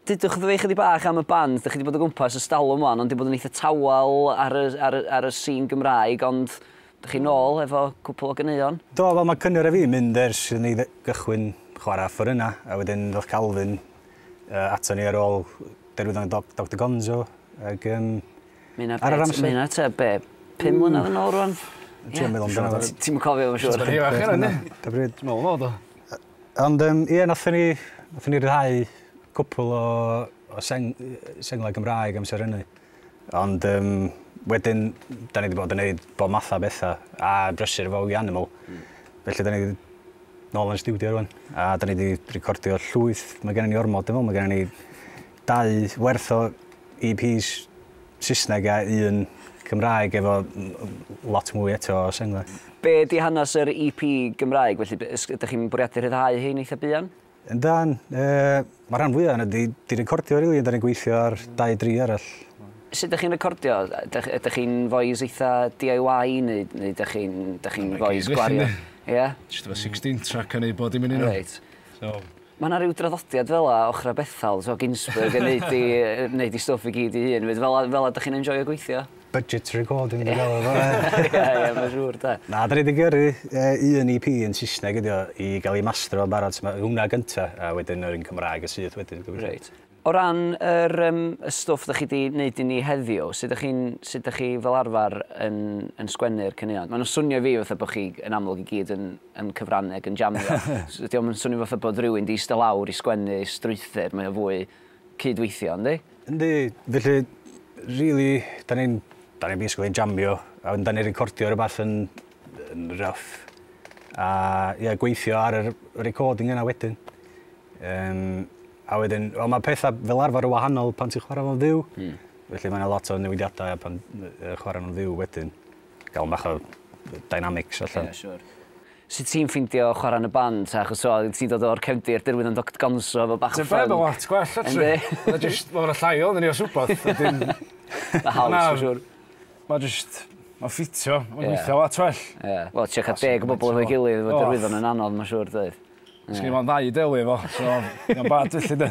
Dudwch wrtho fi chydig bach am y band. Dych chi wedi bod o gwmpas ers talwm wan, ond wedi bod yn eitha tawel ar y, ar y, ar y scene Gymraeg, ond dych chi'n ôl efo cwpl o ganeuon. Do, wel mae Cynyr a fi'n mynd ers i ni gychwyn chwarae fforynna, a wedyn ddoth Calvin uh, ato ni ar ôl derwyddon y Doc, Dr Gonzo, ac um, ar yr amser... Mae hynna te, be, pum mlynedd yn ôl rwan? Ti'n meddwl amdano fo? Ti'n cofio, mae'n siŵr. Da bryd, da bryd. Dwi'n meddwl, do. Ond yym ie nathon ni nathon ni ryddhau cwpwl o o seng- yy senglau Gymraeg amser hynny ond yym wedyn 'dan ni 'di bod yn neud bob matha o betha a brysur efo We Animal felly 'dan ni nôl yn y stiwdio rŵan a 'dan ni 'di recordio llwyth ma' gennon ni ormod dwi me'wl ma' gennon ni dau werth o EPs Saesneg a un Cymraeg efo lot mwy eto o senglau. Be ydy hanes yr EP Gymraeg felly? Ydych chi'n bwriadu rhyddhau hyn eitha buan? Yndan. Mae rhan fwyaf yna di, di recordio rili, really, da ni'n gweithio ar dau dri arall. Sut ydych chi'n recordio? Ydych chi'n voice eitha DIY neu, neu ydych chi'n chi voice gwario? Ie? Yeah? Just efo 16 track yn ei bod i'n mynd i nhw. Reit. So, Ma' 'na ryw draddodiad fela ochra Bethal t'o' Ginsberg yn neud 'i yy neud 'i stwff i gyd 'i hun 'fyd fela fela dych chi'n enjoio gweithio? Budget recording dwi'n galw fo ie. Ie ie ma'n siŵr 'de. Na 'dan ni 'di gyrru yy un EP yn Sysneg ydi o i ga'l 'i mastro yn barod so ma' hwnna gynta a wedyn yr un Cymraeg yn syth wedyn gobeithio. Reit. O ran yr yym y stwff dych chi 'di neud i ni heddiw, sut dych chi'n sut dych chi fel arfer yn yn sgwennu'r caneuon? Ma' nw'n swnio i fi fatha bo' chi yn amlwg i gyd yn yn cyfrannu ag yn jamio. So 'di o'm yn swnio fatha bod rywun 'di ista lawr i sgwennu strwythur, mae o fwy cyd-weithio, yndi? Yndi, felly rili 'dan ni'n 'dan ni'n basically yn jamio a wedyn 'dan ni'n recordio rwbath yn yn rough a ie gweithio ar yr recording yna wedyn. Yym. A wedyn, wel mae pethau fel arfer yn wahanol pan ti'n chwarae fo'n fyw. Mm. Felly mae yna lot o newidiadau pan uh, chwarae nhw'n fyw wedyn. Gael bach o dynamics allan. Yeah, sure. Sut ti'n ffeindio chwarae yn y band? Achos so, ti'n dod o'r cefndir, dyrwydd yn Dr Gonzo, efo bach o ffyn. Ti'n lot gwell, actually. Mae'n just, mae'n llai o, ni o swbod. Mae'n haws, for sure. Ma' jyst ma' ffitio ma'n gweithio lot well. Ie. Wel trio ca'l deg o bobol efo'i gilydd efo derwyddon yn anodd ma' siŵr doedd? Sgin i 'im ond ddau i delio efo so mae o'n bad felly 'de?